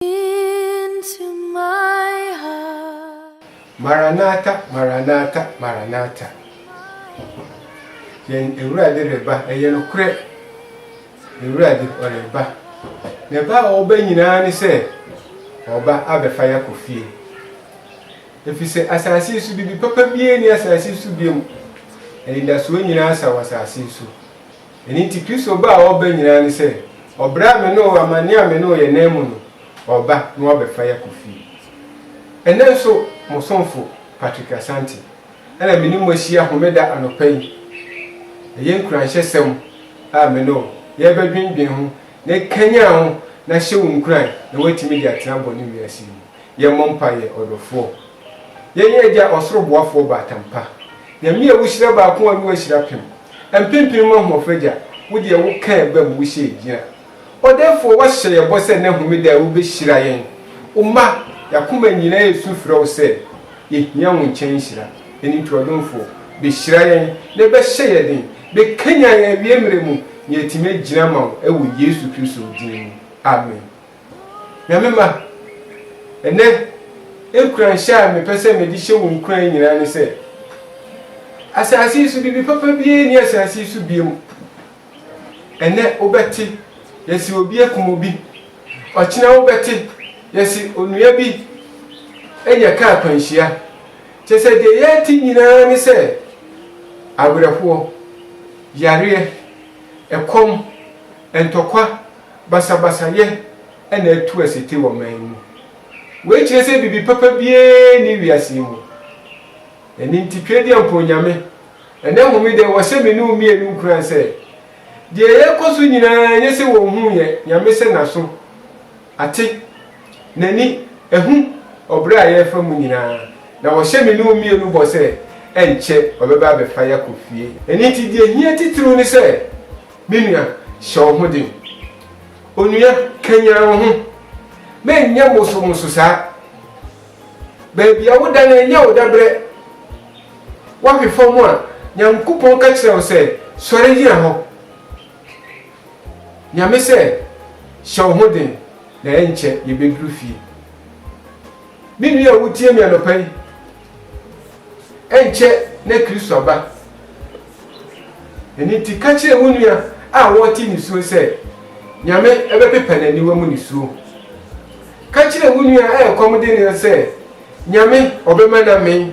into my heart. Maranatha, Maranatha, Maranatha. Yɛn Awurade reba, ɛyɛ nokorɛ. Awurade ɔreba. Na ɛba a ɔba nyinaa ne sɛ ɔba abɛfa yɛ akɔ fie. Ɛfiri sɛ asase yi so biribi papa biara ni asase yi so biom. Anidasoɔ nyinaa sa wɔ asase yi so. Ɛno nti Kristo ba a ɔreba nyinaa ne sɛ, ɔbrɛ a me ne wo, amanneɛ a me ne wo yɛ nan mu no, ɔreba na wabɛfa yi akɔ fie. Ɛnnɛ nso, mo somfo Patrick Asante na me ne mo ahyia Homeda anɔpa yi. Ɛyɛ nkuranhyɛsɛm a me ne wo yɛrebɛdwendwen ho na ɛkanyan wo na ahyɛ wo nkuran na woatumi de atena bɔne wiase yi mu. Yɛmmɔ mpaeɛ, Ɔdɔfoɔ. Yɛn yɛn Agya Ɔsoro Boafoɔ Baatan pa, Nyame a wohyira baako a Noa hyira pem, mpempem mu ahoɔfɛ Agya, wo deɛ wo kaa ɛba mu, wo hyɛɛ gyina. Ɔdɛɛfoɔ, woahyɛ yɛn bɔ sɛ nnɛ homeda yi wobɛhyira yɛn, wo mma, yɛn akoma nyinaa resu frɛ wo sɛ yɛhia wo nkyɛn nhyira. Ɛno nti Ɔdomfoɔ, bɛhyira yɛn na bɛhyɛ yɛn den, bɛkanyan yɛn awiemmerɛ mu na yɛatumi agyina ama wo wɔ Yesu Kristo din mu. Amen. Nyame mma, ɛnnɛ, nkuranhyɛ a mepɛ sɛ mede hyɛ wo nkuran nyinaa ne sɛ, Asase yi so biribi papa biara nni asase yi so biom. Ɛnnɛ wobɛte, yɛse obi akum obi. Ɔkyena wobɛte, yɛse onua bi anya kaa akwanhyia. Kyerɛ sɛ deɛ yɛte nyinaa ne sɛ, awerɛhoɔ, yareɛ, ɛkɔm, ntɔkwa, basabasayɛ na atu asete wɔ man mu. Wei kyerɛ sɛ biribi papa biara nni wiase yi mu. Ɛno nti Tweaduampɔn Nyame, ɛnnɛ Homeda yi wɔhyɛ me ne wo mmienu nkuran sɛ, deɛ yɛrekɔ so nyinaa nyɛ sɛ wɔnhuu yɛn, Nyame sɛ n'aso ate, n'ani ahu ɔbrɛ a yɛrefa mu nyinaa, na wɔhyɛ me ne wo mmienu bɔ sɛ ɛnkyɛ ɔbɛba abɛfa yɛakɔ fie. Ɛno nti deɛ ɛhia titiriw ne sɛ, Me nua, hyɛ wo ho den. Onua, kanyan wo ho. Menyɛ mosomso saa. Baabi a woda no, ɛnyɛ wo dabrɛ. Woahwe fam a, Nyankopɔn ka kyerɛ wo sɛ, Sɔre gyina hɔ. Nyame sɛ, Hyɛ wo ho den, na ɛnkyɛ yɛbɛduru fie. Me nua a wutie me anɔpa yi, ɛnkyɛ na Kristo aba. Ɛno nti, ka kyerɛ wo nua a ɔrete nisuo sɛ, Nyame bɛpepa n'aniwa mu nisuo. Ka kyerɛ wo nua a ɛkɔm de no sɛ, Nyame ɔbɛma no amee.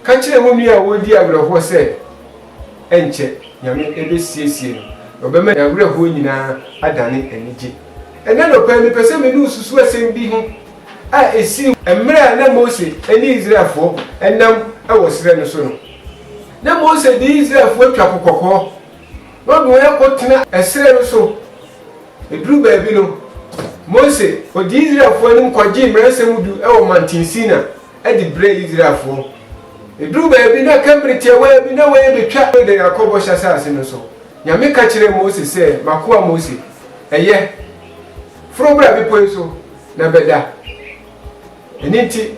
Ka kyerɛ wo nua a ɔredi awerɛhoɔ sɛ, Ɛnkyɛ Nyame bɛsiesie no, na ɔbɛma n'awerɛhoɔ nyinaa adane anigye. Ɛnnɛ anɔpa yi, mepɛ sɛ me ne wo susu asɛm bi ho a esii mmerɛ a na Mose ne Israelfoɔ nam wɔ serɛ no so no. Na Mose de Israelfoɔ atwa Po Kɔkɔɔ na ɔde wɔn akɔtena serɛ no so. Ɛduruu baabi no, Mose kɔdii Israelfoɔ anim kɔgyee Mmaransɛm Du wɔ Mantin Sina de brɛɛ Israelfoɔ. Ɛduruu baabi na aka mmerɛ tiawaa bi na wɔrebɛtwa Yordan akɔ Bɔhyɛ Asase no so. Nyame ka kyerɛɛ Mose sɛ, M'akoa Mose, ɛyɛ. Foro bra bepɔ yi so na bɛda. Ɛno nti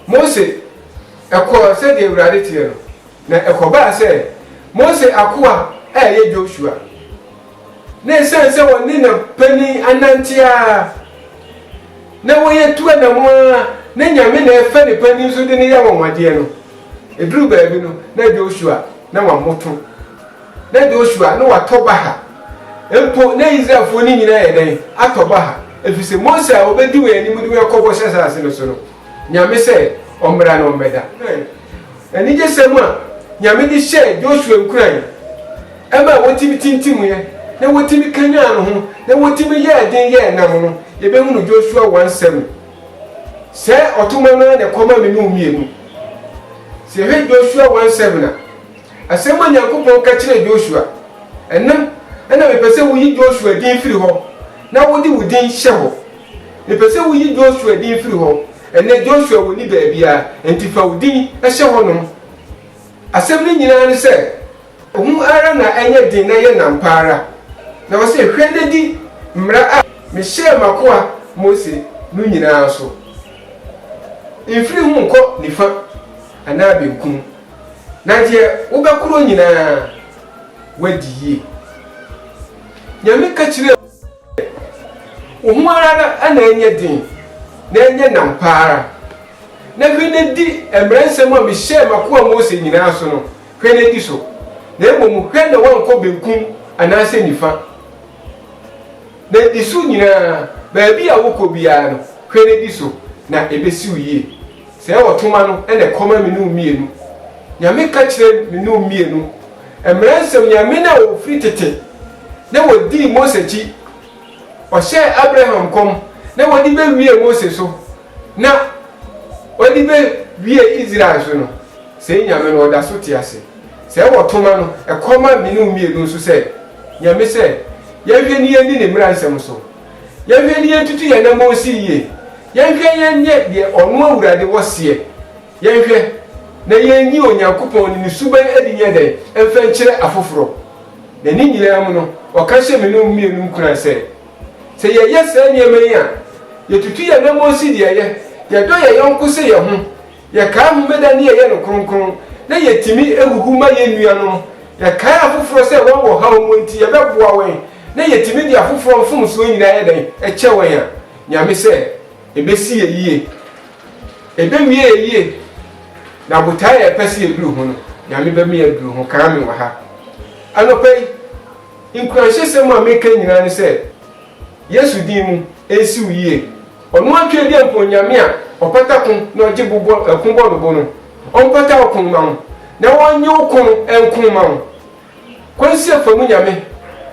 Mose kɔɔ sɛdeɛ Awurade teɛ no. Na ɛkɔbaa sɛ Mose akoa a ɛyɛ Josua, na ɛsiane sɛ ɔne ne panin anante ara, na wɔyɛ tu anamo ara, na Nyame na ɛfa ne panin so de no yɛ anwanwadeɛ no, ɛduru baabi no, na Josua na wamoto. Na Joshua ne watɔ baha, mpo na Israelfoɔ no nyinaa ayɛ dɛn? Atɔ baha, ɛfiri sɛ Mose a ɔbɛdi wɔn anim de wɔn akɔ bɔhyɛ asase no so no, Nyame sɛ ɔmmra na ɔmmɛda. Hwɛ anigyesɛm a Nyame de hyɛɛ Joshua nkuran, ɛmaa wɔtumi tintimuiɛ, na wɔtumi kanyan no ho, na wɔtumi yɛɛ den yɛɛ nnam no, yɛbɛhunu Joshua 1 7. Sɛɛ ɔtomɔ no ara na ɛkɔma me ne wo mmienu. Sɛ yɛhwɛ Joshua 1 7 a. Asɛm a Nyankopɔn ka kyerɛɛ Joshua, Ɛnnɛ na mepɛ sɛ woyi Joshua din firi hɔ na wode wo din hyɛ hɔ. Mepɛ sɛ woyi Joshua din firi hɔ. Ɛnnɛ Joshua wonni baabiara, enti fa wo din hyɛ hɔnom. Asɛm no nyinaa ne sɛ, Hu ara na ɛnyɛ den na yɛ nnam pa ara. Na ɔse, Hwɛ na di mmara a mehyɛɛ m'akoa Mose no nyinaa so. Mfiri ho nkɔ nifa anaa benkum. Na deɛ wobɛkorɔ nyinaa, woadi yie. Nyame ka kyerɛɛ Mose sɛ, Wo ho ara na ɛnyɛ den, na ɛnyɛ nnam pa ara, na hwɛ na di mmaransɛm a mehyɛɛ m'akoa Mose nyinaa so no, hwɛ na di so, na mmom hwɛ na woankɔ benkum anaasɛ nifa. Na di so nyinaa, baabi a wokɔ biara no, hwɛ na di so, na ɛbɛsi wo yie. Sɛ ɛwɔ toma no na ɛkɔma me nom mmienu. Nyame ka kyerɛ me nom mmienu. Mmara nsɛm Nyame no a ɔfiri tete na wɔdii Mose akyi, ɔhyɛɛ Abraham nkɔm na wɔde bɛwiee Mose so na wɔde bɛwiee Israel so no, sei Nyame no ɔda so te ase. Sɛ ɛwɔ toma no, ɛkɔma me nom mmienu nso sɛ, Nyame sɛ, yɛnhwɛ ne yɛnni ne mmara nsɛm so. Yɛnhwɛ ne yɛntutu yɛn anamɔ nsi yie, yɛnhwɛ yɛnyɛ deɛ Ɔno Awurade wɔ seɛ, yɛnhwɛ na yɛnyi Onyankopɔn ne Ne suban adi nyɛ dɛn mfa nkyerɛ afoforɔ. Na ne nyinaa mu no, Ɔka hyɛ me ne wo mmienu nkuran sɛ, sɛ yɛyɛ saa nneɛma yi a, yɛtutu yɛn anamɔ nsi deɛ ɛyɛ, yɛdɔ yɛn yɔnko sɛ yɛn ho, Yɛkae Homeda ne yɛyɛ no kronkron, na yetumi huhu ma yɛn nuanom. Yɛkae afoforo sɛ wɔn ɔhaw mu nti yɛbɛboa wɔn, na yetumi de afoforo mfomsoɔ nyinaa yɛ dɛn? kyɛ wɔn a. Nyame sɛ ɛbɛsi yɛ yie. Ɛbɛwie yɛ yie. Na botae a yɛpɛ sɛ yɛduru ho no, Nyame bɛma yɛaduru ho. Kaa me wɔ ha. Anɔpa yi, nkuranhyɛsɛm a meka nyinaa ne sɛ, Yesu din mu, ɛnsi wo yie. Ɔno ara Twedeɛ Mpo Onyame a Ɔpata ko na Ɔgye bo bɔ ko bɔ no bo no, Ɔmpata wo ko mma wo, na Ɔnnye wo ko no nko mma wo. Kwan sie fa mu Nyame,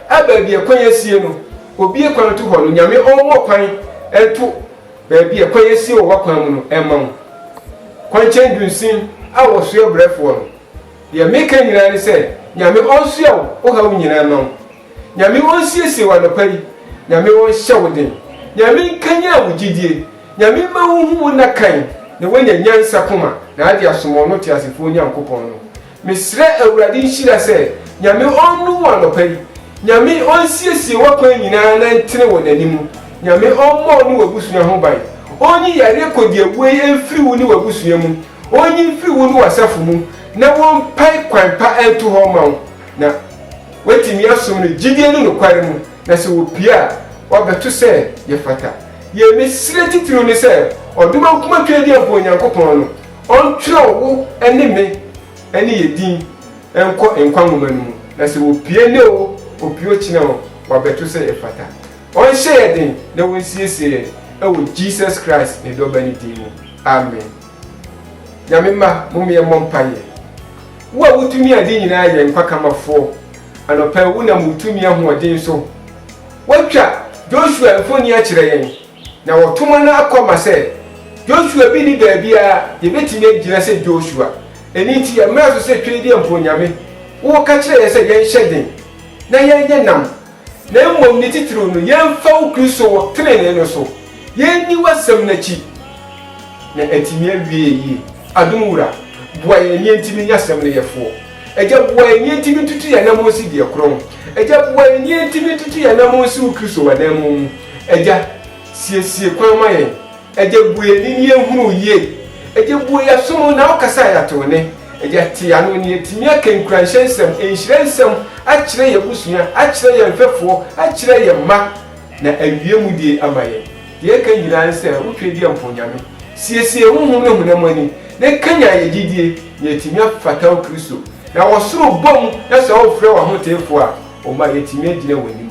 a baabi a kwan asie no Obie kwan to hɔ no Nyame Ɔmmɔ kwan nto baabi a kwan asie wɔ w'akwan mu no mma wo. Kwankyɛn dunsin a wɔsoɛ brɛfoɔ no, deɛ meka nyinaa ne sɛ Nyame Ɔnsoɛ wo wo haw nyinaa mma wo. Nyame onsiesie wo anɔpari, Nyame onhyɛ wo den, Nyame nkanyan wo gyidie, Nyame mma wo nhu wo nna kan na woanya nyansa koma na ade asom ɔno teasefoɔ Nyankopɔn no. Mesrɛ Awurade nhyira sɛ Nyame ɔnnum wo anɔpari, Nyame onsiesie woakwan nyinaa na ntene wɔ nanimu, Nyame ɔmmɔ wo ne w'abusua ho ban, onyi yareɛ kɔdiawuoyi mfiri wo ne w'abusua mu, onyi mfiri wo ne w'asafo mu na wonpae kwan pa nto hɔ mma wo. Na woatumi asom no gyidie ne nokware mu, na sɛ wɔpue a, wɔabɛto sɛ yɛfata. Yei me srɛ titiriw ne sɛ ɔdom ankoma Twɛdiɛmfoɔ Onyankopɔn no ɔntwerɛ wo ne me ne yɛ din nkɔ nkwa nwoma no mu, na sɛ wɔpue nnɛ o, wɔpue ɔkyena o, wɔabɛto sɛ yɛfata. Ɔnhyɛ yɛ den na wɔnsiesie yɛn wɔ Jesus Christ ne Dɔba no din mu. Amen. Nyame mma mom yɛmmɔ mpaeɛ. Wo a wotumi ade nyinaa yɛ nkwa kamafoɔ anɔpa yi wonam wo tumi ahoɔden so watwa Joshua mfoni akyerɛ yɛn na wɔtoma no akɔ ma sɛ Joshua bi ni baabiara yɛbɛtumi agyina sɛ Joshua ɛno nti yɛmmra so sɛ twedeɛmfo Nyame wo ka kyerɛ yɛn sɛ yɛnhyɛ den na yɛnyɛ nam Na mmom ne titiriw no, yɛmfa wo Kristo wo trenee no so, yenni w'asɛm no akyi, na atumi awie yɛn yie. Adom Wura, boa yɛn nea enti menya asɛm no yɛfoɔ. Agya, boa yɛn nea enti mentutu yɛn anammɔn nsi deɛ korɔn. Agya, boa yɛn nea enti mentutu yɛn anammɔn nsi wo Kristo w'ananmu mu. Agya, siesie kwan ma yɛn. Agya bue yɛn ani na yɛnhunu wo yie. Agya bue yɛaso mu na wokasa a yɛate wo nne. Agya te yɛano na yɛatumi aka nkuranhyɛ nsɛm, nhyira nsɛm akyerɛ yɛn abusua, akyerɛ yɛn mfɛfoɔ, akyerɛ yɛn mma, na awie mu deɛ ama yɛn. Deɛ ɛka nyinaa ne sɛ wo Twedeɛ mpo Nyame, siesie honhom ne honam ani na kanyan yɛn gyedie na yɛatumi afata wo Kristo. Na wɔ soro bɔ mu na sɛ wofrɛ w'ahoteefoɔ a, ɔma yɛatumi agyina w'anim.